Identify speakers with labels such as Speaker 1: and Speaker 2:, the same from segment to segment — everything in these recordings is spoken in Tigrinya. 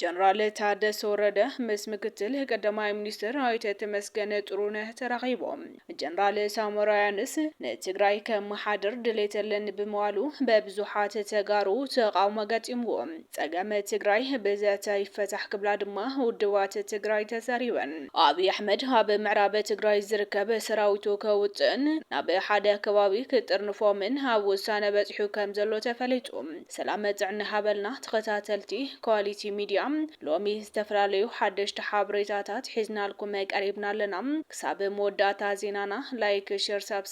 Speaker 1: ጀነራል ታደሰ ወረደ ምስ ምክትል ቀዳማይ ሚኒስትር ኣይተ ተመስገን ጥሩነህ ተራኺቦም። ጀነራል ሳሞራ ያንስ ንትግራይ ከመሓድር ድሌት ኣለኒ ብምባሉ በብዙሓት ተጋሩ ተቓውሞ ገጢምዎም። ፀገም ትግራይ ብዘተ ይፈታሕ ክብላ ድማ ውድባት ትግራይ ተዛሪበን። ኣብይ ኣሕመድ ኣብ ምዕራብ ትግራይ ዝርከብ ሰራዊቱ ከውፅእን ናብ ሓደ ከባቢ ክጥርንፎምን ኣብ ውሳነ በፂሑ ከም ዘሎ ተፈሊጡ። ሰላም ጥዕና ይሃበልና ተኸታተልቲ ኳሊቲ ሚድያ ሎሚ ዝተፈላለዩ ሓደሽቲ ሓበሬታታት ሒዝናልኩም ቀሪብና ኣለና ክሳብ መወዳእታ ዜናና ላይክ ሸር ሳብስክራይብ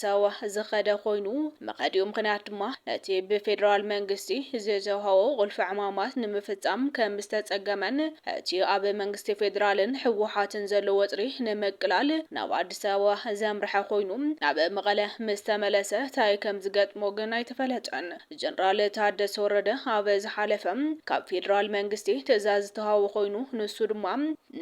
Speaker 1: ሰወ ዝኸደ ኮይኑ፣ መኸዲኡ ምኽንያት ድማ ነቲ ብፌደራል መንግስቲ ዝተውሃቦ ቁልፊ ዕማማት ንምፍፃም ከምዝተፀገመን እቲ ኣብ መንግስቲ ፌደራልን ህወሓትን ዘሎ ወጥሪ ንምቅላል ናብ ኣዲስ ኣበባ ዘምርሐ ኮይኑ ናብ መቐለ ምስተመለሰ ታይ ከምዝገጥሞ ግን ኣይተፈለጠን። ጀነራል ታደሰ ወረደ ኣብ ዝሓለፈ ካብ ፌደራል መንግስቲ ትእዛዝ ዝተውሃቦ ኮይኑ ንሱ ድማ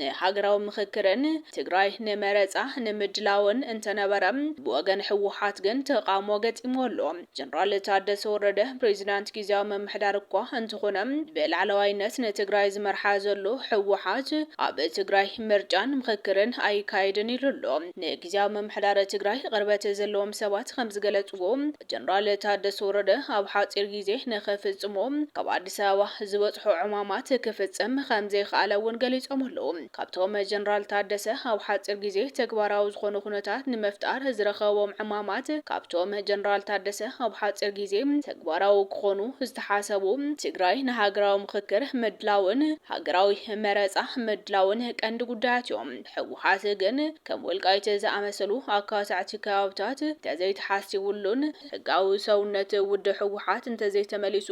Speaker 1: ንሃገራዊ ምኽክርን ትግራይ ንመረፃ ንምድላውን እንተነበረ ብወገን ህወሓት ግን ተቓውሞ ገጢምዎ ኣሎ። ጀነራል ታደሰ ወረደ ፕሬዚዳንት ጊዚያዊ ምምሕዳር እኳ እንተኾነ ብላዕለዋይነት ንትግራይ ዝመርሓ ዘሎ ህወሓት ኣብ ትግራይ ምርጫን ምኽክርን ኣይካየድን ኢሉ ኣሎ። ንጊዚያዊ ምምሕዳር ትግራይ ቕርበት ዘለዎም ሰባት ከምዝገለፅዎ ጀነራል ታደሰ ወረደ ኣብ ሓፂር ጊዜ ንኽፍፅሞ ካብ ኣዲስ ኣበባ ዝበፅሖ ዕማማት ክፍፅም ከምዘይኸኣለ እውን ገሊፆም ኣለው። ካብቶም ጀነራል ታደሰ ኣብ ሓፂር ጊዜ ተግባራዊ ዝኾኑ ኩነታት ንምፍጣር ዝረኸቦም ዕማማት ካብቶም ጀነራል ታደሰ ኣብ ሓፂር ጊዜ ተግባራዊ ክኾኑ ዝተሓሰቡ ትግራይ ንሃገራዊ ምኽክር ምድላውን ሃገራዊ መረፃ ምድላውን ቀንዲ ጉዳያት እዮም። ህወሓት ግን ከም ወልቃይት ዝኣመሰሉ ኣካታዕቲ ከባብታት እንተዘይተሓሲቡሉን ሕጋዊ ሰውነት ውድብ ህወሓት እንተዘይተመሊሱ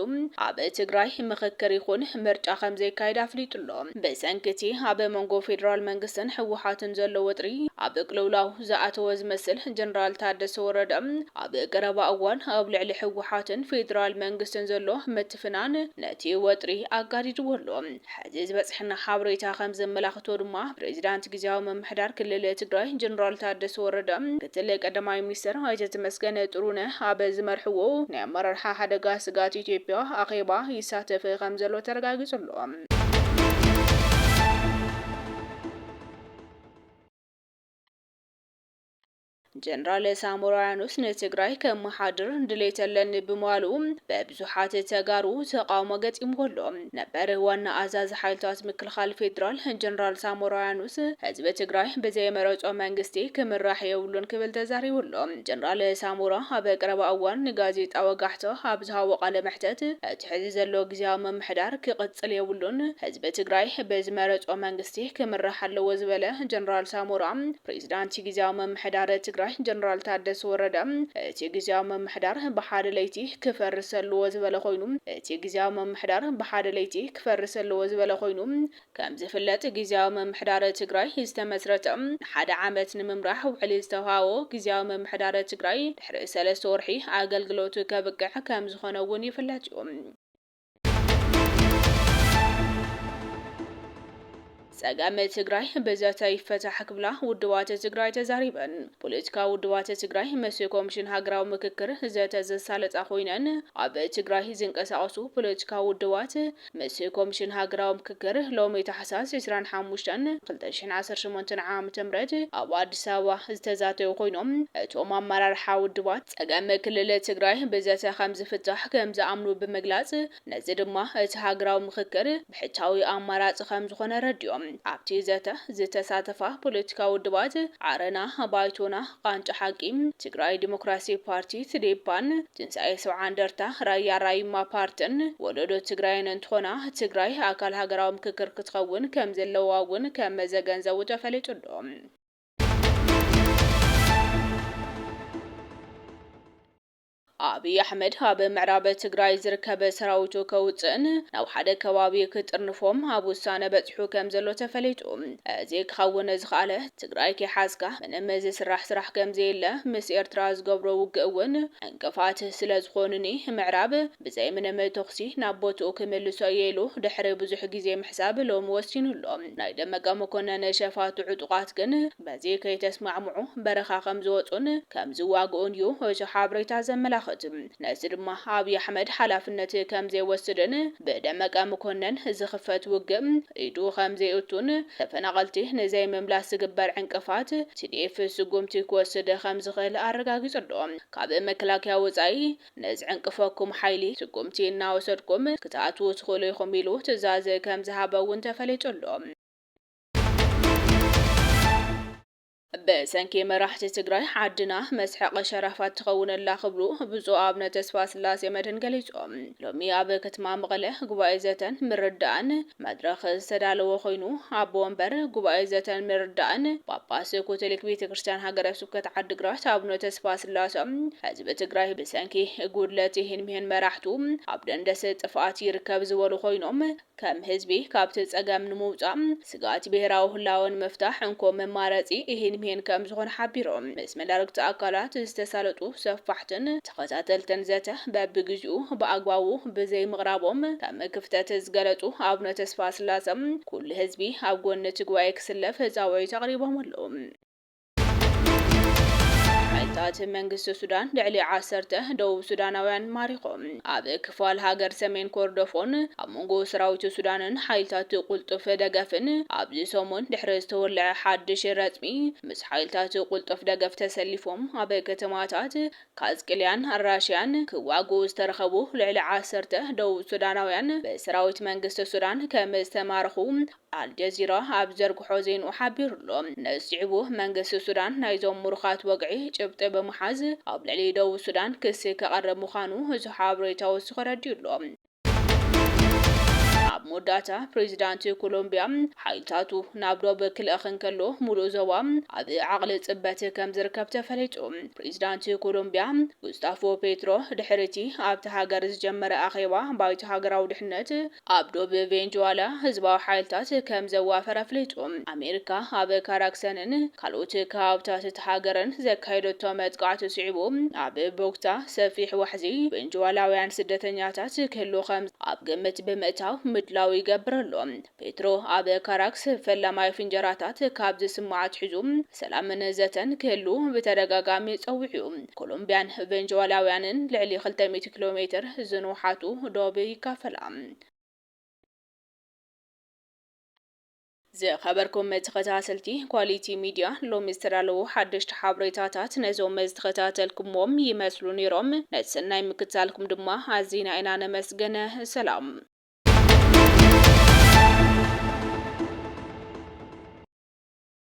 Speaker 1: ኣብ ትግራይ ምኽክር ይኹን ምርጫ ከምዘይካየድ ኣፍሊጡ'ሎ። ብሰንኪ'ቲ ኣብ መንጎ ፌደራል መንግስትን ህወሓትን ዘሎ ወጥሪ ኣብ ቅልውላው ዝኣተወ ዝመስል ጀነራል ታደሰ ወረደ ኣብ ቀረባ እዋን ኣብ ልዕሊ ህወሓትን ፌደራል መንግስትን ዘሎ ምትፍናን ነቲ ወጥሪ ኣጋዲድዎ'ሎ። ሕዚ ዝበፀሐና ሓበሬታ ከምዘመላኽቶ ድማ ፕሬዚዳንት ጊዚያዊ ምምሕዳር ክልል ትግራይ ጀነራል ታደሰ ወረደ ምክትል ቀዳማይ ሚኒስትር ኣይተ ተመስገን ጥሩነህ ኣብ ዝመርሕዎ ናይ ኣመራርሓ ሓደጋ ስግኣት ኢትዮጵያ ኣኼባ ይሳተፍ ከምዘሎ ተረጋጊፁ ኣሎ። ጀነራል ሳሞራ የኑስ ንትግራይ ከመሓድር ድሌት ኣለኒ ብምባሉ ብብዙሓት ተጋሩ ተቓውሞ ገጢምዎ ኣሎ። ነበር ዋና ኣዛዚ ሓይልታት ምክልኻል ፌዴራል ጀነራል ሳሞራ የኑስ ህዝቢ ትግራይ ብዘይመረፆ መንግስቲ ክምራሕ የብሉን ክብል ተዛሪቡ ኣሎ። ጀነራል ሳሞራ ኣብ ቀረባ እዋን ንጋዜጣ ወጋሕታ ኣብ ዝሃቦ ቃለ መሕተት እቲ ሕዚ ዘሎ ግዝያዊ ምምሕዳር ክቕፅል የብሉን፣ ህዝቢ ትግራይ ብዝመረፆ መንግስቲ ክምራሕ ኣለዎ ዝበለ ጀነራል ሳሞራ፣ ፕሬዚዳንት ጊዚያዊ ምምሕዳር ትግራይ ጀነራል ታደሰ ወረደ እቲ ጊዚያዊ ምምሕዳር ብሓደ ለይቲ ክፈርስ ኣለዎ ዝበለ ኮይኑ እቲ ጊዚያዊ ምምሕዳር ብሓደ ለይቲ ክፈርስ ኣለዎ ዝበለ ኮይኑ ከምዝፍለጥ ጊዚያዊ ምምሕዳር ትግራይ ዝተመስረተ ንሓደ ዓመት ንምምራሕ ውዕሊ ዝተውሃቦ ጊዚያዊ ምምሕዳር ትግራይ ድሕሪ ሰለስተ ወርሒ ኣገልግሎቱ ከብቅዕ ከምዝኾነ እውን ይፍለጥ እዩ። ፀገም ትግራይ ብዘተ ይፈታሕ ክብላ ውድባት ትግራይ ተዛሪበን። ፖለቲካዊ ውድባት ትግራይ ምስ ኮሚሽን ሃገራዊ ምክክር ዘተ ዘሳለጣ ኮይነን ኣብ ትግራይ ዝንቀሳቐሱ ፖለቲካዊ ውድባት ምስ ኮሚሽን ሃገራዊ ምክክር ሎሚ ታሕሳስ ዕስራን ሓሙሽተን ክልተ ሽሕን ዓሰርተ ሸሞንተን ዓመተ ምህረት ኣብ ኣዲስ ኣበባ ዝተዛተዩ ኮይኖም እቶም ኣመራርሓ ውድባት ፀገም ክልል ትግራይ ብዘተ ከምዝፍታሕ ከምዝኣምኑ ብምግላፅ፣ ነዚ ድማ እቲ ሃገራዊ ምኽክር ብሕታዊ ኣማራፂ ከምዝኾነ ኣረዲኦም። ኣብቲ ዘተ ዝተሳተፋ ፖለቲካዊ ውድባት ዓረና፣ ባይቶና፣ ቃንጫ ሓቂ፣ ትግራይ ዲሞክራሲ ፓርቲ፣ ትዴፓን፣ ትንሳኤ ሰብዓ እንደርታ፣ ራያ ራዩማ ፓርቲን ወለዶ ትግራይን እንትኾና፣ ትግራይ ኣካል ሃገራዊ ምኽክር ክትኸውን ከምዘለዋ እውን ከመዘገንዘቡ ተፈሊጡ'ሎ። ኣብይ ኣሕመድ ኣብ ምዕራብ ትግራይ ዝርከብ ሰራዊቱ ከውፅእን ናብ ሓደ ከባቢ ክጥርንፎም ኣብ ውሳነ በፂሑ ከም ዘሎ ተፈሊጡ። እዚ ክኸውን ዝኸኣለ ትግራይ ከይሓዝካ ምንም ዝስራሕ ስራሕ ከም ዘየለ ምስ ኤርትራ ዝገብሮ ውግእ እውን ዕንቅፋት ስለ ዝኾኑኒ ምዕራብ ብዘይ ምንም ተኹሲ ናብ ቦትኡ ክምልሶ እየ ኢሉ ድሕሪ ብዙሕ ግዜ ምሕሳብ ሎሚ ወሲኑ ኣሎ። ናይ ደመቀ መኮነን ሸፋቱ ዕጡቓት ግን በዚ ከይተስማዕምዑ በረኻ ከምዝወጹን ከምዝዋግኡን ዩ እቲ ሓበሬታ ዘመላኽት። ነዚ ድማ ኣብይ ኣሕመድ ሓላፍነት ከምዘይወስድን ብደመቀ መኮነን ዝኽፈት ውግእ ኢዱ ከምዘይእቱን ተፈናቐልቲ ንዘይምምላስ ዝግበር ዕንቅፋት tdf ስጉምቲ ክወስድ ከምዝኽእል ኣረጋጊጹ ኣሎ። ካብ መከላከያ ወጻኢ ንዝዕንቅፈኩም ሓይሊ ስጉምቲ እናወሰድኩም ክትኣትዉ ትኽእሉ ኢኹም ኢሉ ትእዛዝ ከምዝሃበ እውን ተፈሊጡ ኣሎ። ብሰንኪ መራሕቲ ትግራይ ዓድና መስሐቒ ሸራፋት ትኸውን ኣላ ክብሉ ብፁዕ ኣብነ ተስፋስላሴ መድህን ገሊፆም። ሎሚ ኣብ ከተማ መቐለ ጉባኤ ዘተን ምርድዳእን መድረኽ ዝተዳለወ ኮይኑ ኣቦ ወንበር ጉባኤ ዘተን ምርዳእን ጳጳስ ኮቶሊክ ቤተ ክርስትያን ሃገረ ስብከት ዓዲግራት ኣቡነ ተስፋስላሰ ህዝቢ ትግራይ ብሰንኪ ጉድለት ይህን ምሂን መራሕቱ ኣብ ደንደስ ጥፍኣት ይርከብ ዝበሉ ኮይኖም ከም ህዝቢ ካብቲ ፀገም ንምውፃእ ስግኣት ብሄራዊ ህላወ ንምፍታሕ እንኮ መማረፂ ይህን ምሂን ከምዝኾነ ሓቢሮም ምስ መዳርግቲ ኣካላት ዝተሳለጡ ሰፋሕትን ተኸታተልትን ዘተ በብግዚኡ ብኣግባቡ ብዘይምቕራቦም ከም ክፍተት ዝገለፁ ኣቡነ ተስፋስላሰ ኩሉ ህዝቢ ኣብ ጎኒ እቲ ጉባኤ ክስለፍ ፃውዒት ኣቕሪቦም ኣለው። ሓይልታት መንግስቲ ሱዳን ልዕሊ ዓሰርተ ደቡብ ሱዳናውያን ማሪኾም። ኣብ ክፋል ሃገር ሰሜን ኮርዶፎን ኣብ መንጎ ሰራዊት ሱዳንን ሓይልታት ቁልጡፍ ደገፍን ኣብዚ ሰሙን ድሕሪ ዝተወለዐ ሓድሽ ረፅሚ፣ ምስ ሓይልታት ቁልጡፍ ደገፍ ተሰሊፎም ኣብ ከተማታት ካዝቅልያን ኣልራሽያን ክዋግኡ ዝተረኸቡ ልዕሊ ዓሰርተ ደቡብ ሱዳናውያን ብሰራዊት መንግስቲ ሱዳን ከም ዝተማረኹ ኣልጀዚራ ኣብ ዝዘርግሖ ዜንኡ ሓቢሩ'ሎ። ነዚ ስዒቡ መንግስቲ ሱዳን ናይዞም ምሩኻት ወግዒ ጭብጢ ብምሓዝ ኣብ ልዕሊ ደቡብ ሱዳን ክሲ ከቐርብ ምዃኑ እዚ ሓበሬታ ወሲኹ ኣረዲኡ'ሎ። ኣብ መወዳእታ ፕሬዚዳንት ኮሎምቢያ ሓይልታቱ ናብ ዶብ ክልእኽ እንከሎ ሙሉእ ዞባ ኣብ ዓቕሊ ፅበት ከምዝርከብ ተፈሊጡ። ፕሬዚዳንት ኮሎምቢያ ጉስታፎ ፔትሮ ድሕሪ እቲ ኣብታ ሃገር ዝጀመረ ኣኼባ ባይቶ ሃገራዊ ድሕነት ኣብ ዶብ ቬንጅዋላ ህዝባዊ ሓይልታት ከምዘዋፈረ ኣፍሊጡ። ኣሜሪካ ኣብ ካራክሰንን ካልኦት ከባብታት እታ ሃገርን ዘካየደቶ መጥቃዕቲ ስዒቡ ኣብ ቦግታ ሰፊሕ ዋሕዚ ቬንጁዋላውያን ስደተኛታት ክህሉ ከም ኣብ ግምት ብምእታው ምድላው ይገብር ኣሎ። ፔትሮ ኣብ ካራክስ ፈላማይ ፍንጀራታት ካብ ዝስማዕ ኣትሒዙ ሰላምን ዘተን ክህሉ ብተደጋጋሚ ጸዊዑ'ዩ። ኮሎምብያን ቬንጁዋላውያንን ልዕሊ ክልተ ሚእቲ ኪሎ ሜትር ዝንውሓቱ ዶብ ይካፈላ። ዝኸበርኩም ተኸታተልቲ ኳሊቲ ሚድያ ሎሚ ዝተዳለዉ ሓደሽቲ ሓበሬታታት ነዞም ዝተኸታተልኩምዎም ይመስሉ ነይሮም። ነቲ ሰናይ ምክትታልኩም ድማ ኣዚና ኢና ነመስግን። ሰላም።